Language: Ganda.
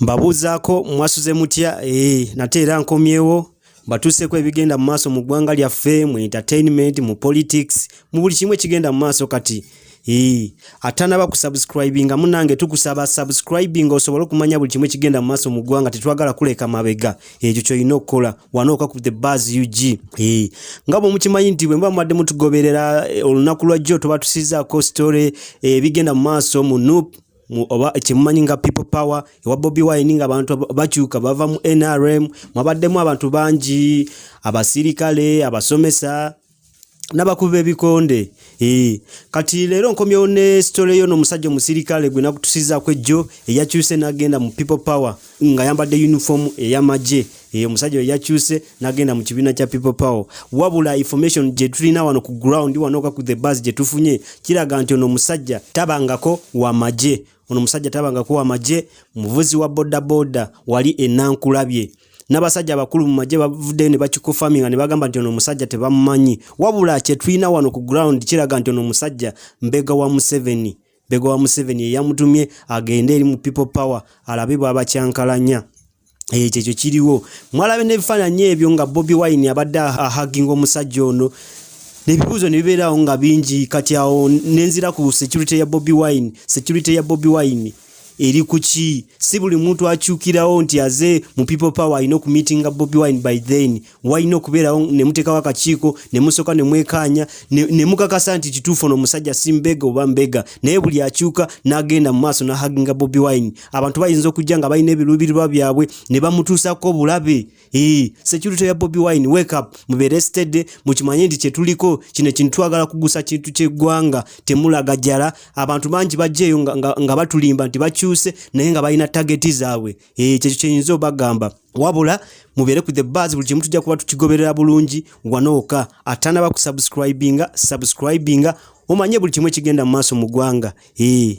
mbabuuzaako mwasuze mutya ee nate era nkomyewo batuuseeko ebigenda mu maaso mu ggwanga lyaffe mu entertainment mu politics mu buli kimu ekigenda mu maaso kati ee atanaba ku subscribing nga munange tukusaba subscribing osobole okumanya buli kimu ekigenda mu maaso mu ggwanga tetwagala kuleka mabega ekyo kyolina okukola wanooka ku the bas ug ee nga bwe mukimanyi nti bwe muba mubadde mutugoberera eh, olunaku lwajjo tuba tusizaako story eh, ebigenda mu maaso mu nup oba kyemumanyi nga people power ewa Bobi Wine nga abantu bakyuka bava mu NRM mwabaddemu abantu bangi abasirikale abasomesa nabakuba ebikonde ee kati leero nkomyewo ne story yo n'omusajja omusirikale gwe nakutusizaako ejjo eyakyuse n'agenda mu people power nga yambadde uniform ey'amagye eyo omusajja oyo yakyuse nagenda mu kibiina kya people power wabula information gye tulina wano ku ground wano oka ku the bus gye tufunye kiraga nti ono omusajja tabangako wa magye ono omusajja tabangako wa magye muvuzi wa bodaboda wali enankulabye n'abasajja abakulu mu magye bavuddeyo ne bakikofaminga ne bagamba nti ono omusajja tebamumanyi wabula kye tulina wano ku ground kiraga nti ono omusajja mbega wa museveni Bego wa Museveni eyamutumye agende eri mu People Power alabe bwabakyankalanya. Eh, ekyo ekyo kiriwo mwalabe n'ebifaananyi ebyo nga bobi wine abadde ahaginga omusajja ono nebibuuzo nebibeerawo nga bingi kati awo nenzira ku security ya bobi wine security ya bobi wine eri kuki si buli muntu akyukirawo nti aze mu people power alina okumitinga bobi wine by then walina okubeerawo ne muteekawo akakiiko ne musooka ne mwekaanya ne mukakasa nti kituufu ono omusajja si mbega oba mbega naye buli akyuka n'agenda mu maaso n'ahaginga bobi wine abantu bayinza okujja nga balina ebiruubirirwa byabwe ne bamutuusako obulabe ee security ya bobi wine wake up mubeere stede mukimanye nti kyetuliko kino ekintu twagala kugusa kintu ky'eggwanga temulaga jala abantu bangi bajjeeyo nga batulimba nti bakyuse naye nga balina tageti zaabwe Eh, kyekyo kyenyinza obagamba wabula mubeere ku the bars buli kimu tujja kuba tukigoberera bulungi wanooka atanaba ku subscribinga subscribinga omanye buli kimu ekigenda mu maaso mu ggwanga eh.